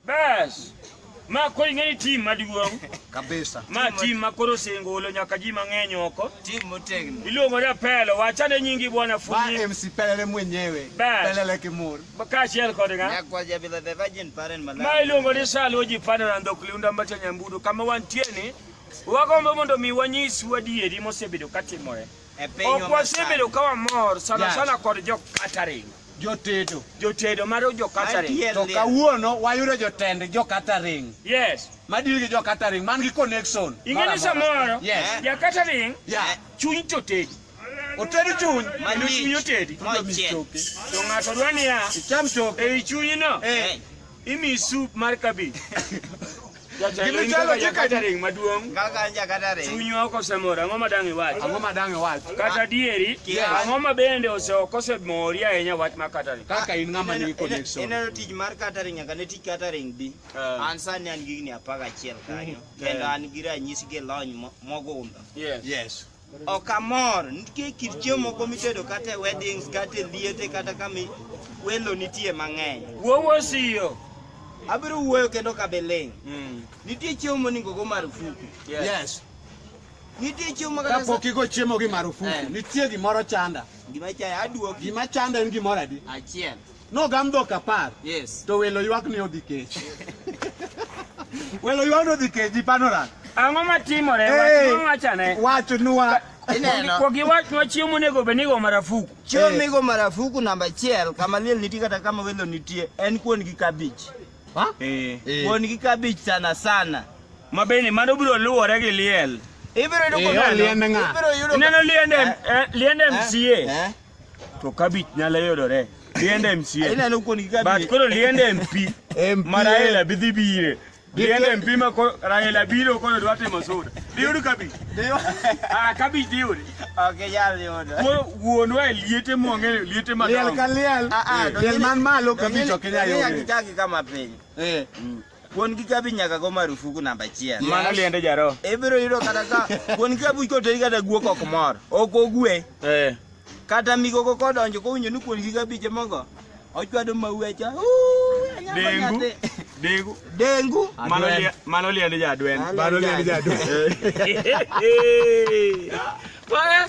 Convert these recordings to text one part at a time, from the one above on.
Bas. Ma koro ing'e ni tim maduong'. Kabisa. Ma tim ma koro osengolo nyaka ji mang'eny oko. Tim motegno. Iluongo ni Apelo, wachane nyingi bwana Funyi. Ba MC Pelele mwenyewe. Bas. Pelele Kimur. Kaachiel kod ng'a? Nyakwa Jabila the Virgin Parent Malawi. Ma iluongo ni Salo ji pano na ndok liunda mbacha nyambudu kama wantie ni. Wagombo mondo mi wanyisu adieri mosebedo katimore. Ok wasebedo ka wamor sana sana kod jo catering. Jotedo. Jotedo mar jo catering. To kawuono wayudo jotend jo catering. Yes. Madil gi jo catering man gi connection. Ing'eyo samoro. Yes. Ja catering. Yeah. Chuny to tedo. Otedo chuny. Mano chuny otedi. To ng'ato dwa niya. Icham choke. Ei chunyino. Eh. Imi soup mar cabbage. Jatelo in kaka jakatering maduong'. Kaka an jakatering. Chunywa ok osemor, ang'o ma dang' iwach? Ang'o ma dang' iwach? Kata dieri, ang'o ma bende ose ok osemori ahinya wach mar catering? Kaka in ng'ama nigi connection. Ineno tich mar catering nyaka ne tich catering bi. Eh. An sani an gi higni apar gachiel kanyo. Eh. Kendo an gi ranyisi gi lony mogundho. Yes. Ok amor, nitie kit chiemo moko mitedo kata e weddings, kata e liete, kata kama welo nitie mang'eny. Wuowo siyo. Abiro wuoyo kendo ka beling'. Mm. Nitie chiemo monego go marufuku. Yes. yes. Nitie chiemo kata kapok igo chiemo gi marufuku. Eh. Nitie gimoro chanda. Gima chaya aduoki. Gima chanda en gimoro adi? Achiel. Nogam dhok apar. Yes. To welo ywak ni odhi kech. Welo ywak ni odhi kech ji panoran. Ang'o ma timore? Hey, wachane. Wacho nwa. Ineno. Kwa giwach nwa chiemo monego bed ni go marafuku. Chiemo hey. migo marafuku namba achiel kama liel nitie kata kama welo nitie en kuon gi kabich. Ha? Eh. Hey. Kuon gi kabich sana sana. Mabeni mano biro luwore gi liel. Ibiro yudo eh, kwa liende nga. Ibiro yudo. Ineno liende eh. eh, liende eh. MCA. Eh. to kabich nyalo yudore liende MCA but koro liende MP ma Raila bi dhi bire liende MP ma Raila biro koro dwa timo suda diyud kabich ah kabich diyud ok yal yud koro wuonwa e liete mwong'e liete madongo liel ka liel ah, ah, liel man malo kabich ok nyal yud kama piny eh Kuon gi kabi nyaka go marufuku namba achiel. Mano liende jaro. Ibiro yudo kata ka kuon gi kabi koteri kata guok ok mor. Ok ogwe. Eh. Kata migogo kodonjo kowinjo ni kuon gi kabi mogo ochwado mauecha. Dengu. Dengu. Dengu. Mano liende mano liende jadwen. Mano liende jadwen. Bwana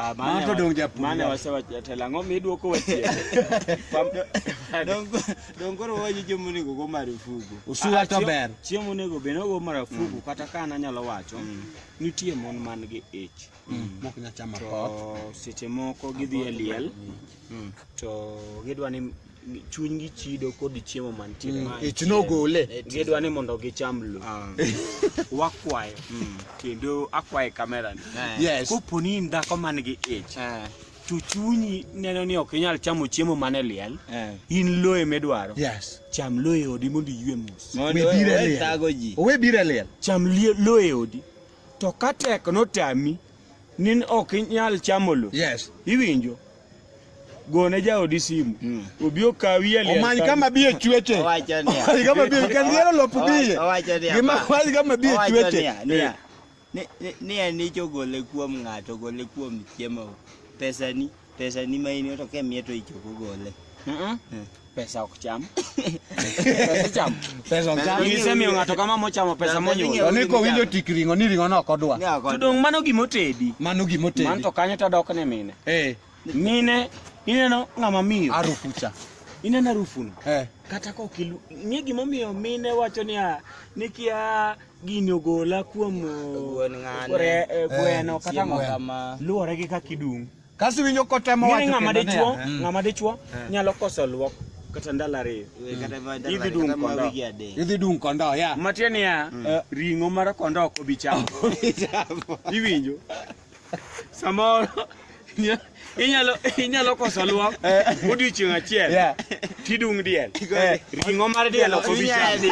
Ah, Mano mane to wa- dong' japuonj mane wach. wasewacho jatelo ang'o midwoko wachie Dongo koro waji jomo nego go marufuku. Usuwa to ber. chiemo onego bed nogo marafuku kata ka an anyalo wacho nitie mon man gi ich Mok nyachama pot. to seche moko gidhi e liel to gidwa ni chunygi chido kod chiemo mantie mm. ich nogole gidwa ni mondo gicham lo ah. wakwayo mm. kendo akwaye kamera ni eh. yes. kopo ni in dhako man gi ich eh. to chunyi neno ni ok inyal chamo chiemo mane liel eh. in loye midwaro yes. cham loye odi mondo iywe mos owe bire liel cham loye odi to ka tek notami ni ok inyal chamo lo yes. iwinjo gone jaodi simu hmm. obi okawi e omany kama bi e chweche omany kama bi kan gero lop biye gima omany kama bi e chweche ni en icho gole kuom ng'ato gole kuom chiemo pesani pesani ma in to kemiye to ichoko gole eh. pesa ok cham pesa cham pesa ok cham ngise miyo ng'ato kama mochamo pesa monyulo oniko winjo tik ringo ni ringo no kodwa to dong mano gimo tedi mano gimo tedi man to kanyo ta dok ne mine eh mine ineno ng'ama miyo arufu cha ineno arufu no eh kata ko kilu ng'e gimo miyo mine wacho ni a nikia gini ogola kuom gweno eh, kata ng'ama luore gi kakidung' Kasi winjo kotemo wacho kendo ng'ama dichuo, hmm. ng'ama dichuo hmm. nyalo koso luok kata ndalo ariyo. Hmm. Idhi dung kondo. Idhi dung kondo, ya. Matie niya, eh, ring'o mar kondo ok obi chamo. Iwinjo? Samoro inyalo inyalo koso luok eh. odiochieng' achiel. Tidung diel. Eh, ring'o mar diel ok obi chamo.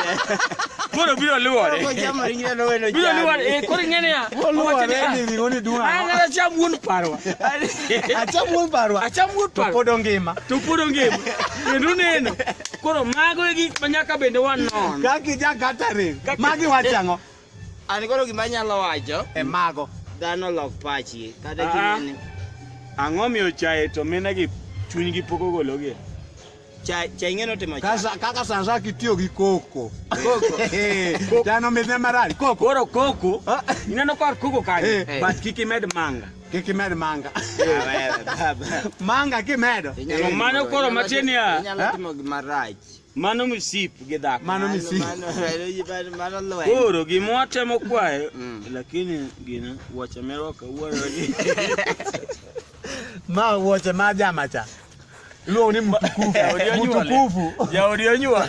Koro biro luwore. Biro luwore. Eh, koro ing'e niya. Luwore ni ring'o ni duong' ang'o. An acham wuon parwa. Acham wuon parwa. Acham wuon parwa. To pod ongima. To pod ongima. Kendo neno. Koro mago e gik ma nyaka bende wanon. Kaki ja catering. Magi wachang'o. An koro gima anyalo wacho e mago. Dhano lok pachi kata Ah. kinene. Ang'o miyo chae to minegi chunygi pok ogologie? Cha cha ing'e notimo cha. Kasa kaka sasa kitiyo gi koko. Koko. Eh, Chano midhe marach. Koko. Koro koko, Ah. ineno kor koko kanyo, Eh. but kik imed manga. Kik imed manga. Ah, wewe, baba. Manga kimedo. Inyalo To mano timo- koro inyalo matin timo- ya. Inyalo Eh? timo gima rach. Mano msip gi dhako. Mano msip. Mano lweny. Koro gima watemo kwayo mm. lakini gina wuoche mero kawuono ni. Ma wuoche ma jama cha. Luong ni mtukufu. Mtukufu. Jaodi onyuol.